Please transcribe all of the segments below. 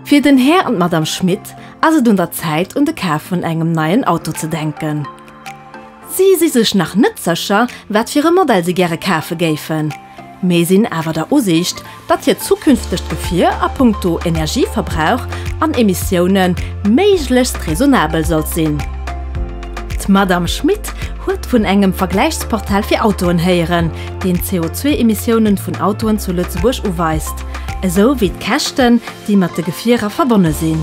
Fir den Här an d'Madame Schmit ass et un der Zäit un de Kaf vun engem neien Auto ze denken. Si si sech nach net sécher, wat fir e Modell si gäre kafe géifen. Mee sinn awer der Usiicht, datt hiert zukünftegt Gefier a punkto Energieverbrauch an Emissioune méiglechst raisonnabel sollt sinn. D'Madamm Schmit huet vun engem Vergläichsportal fir Autoen héieren, deen d'CO2-Emissioune vun Autoen zu Lëtzebuerg uweist, esou wéi d'Käschten, déi mat de Gefierer verbonne sinn.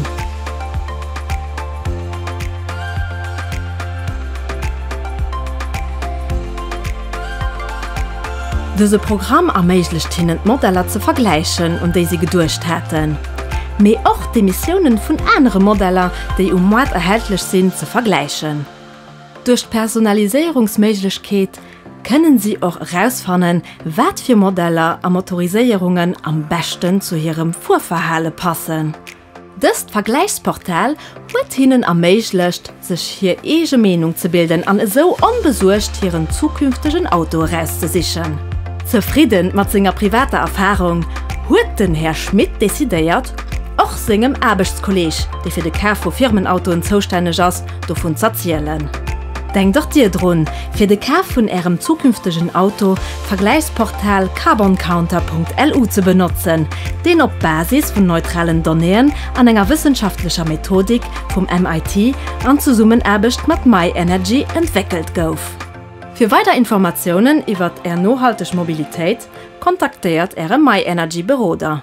Dëse Programm erméiglecht hinnen d'Modeller ze vergläichen, un déi si geduecht haten, mee och d'Emissiounen vun anere Modeller, déi um Moart erhältlech sinn, ze vergläichen. Duerch d'Personaliséierungsméiglechkeet kënnen si och erausfannen, wat fir Modeller a Motoriséierungen am beschten zu hirem Fuerverhale passen. Dëst Vergläichsportal huet hinnen erméiglecht, sech hir eege Meenung ze bilden an esou onbesuergt hiren zukünftegen Auto erauszesichen. Zefridden mat senger privater Erfarung, huet den Här Schmit decidéiert, och sengem Aarbechtskolleg, dee fir de Kaf vu Firmenautoen zoustänneg ass, dovun z'erzielen. Denkt och Dir drun, fir de Kaf vun Ärem zukünftegen Auto Vergläichsportal carboncounter.lu ze benotzen, deen op Basis vun neutralen Donnéeën an enger wëssenschaftlecher Methodik vum MIT an Zesummenaarbecht mat myenergy entwéckelt gouf. Fir weider Informatiounen iwwert Är nohalteg Mobilitéit, kontaktéiert Äre myenergy Beroder.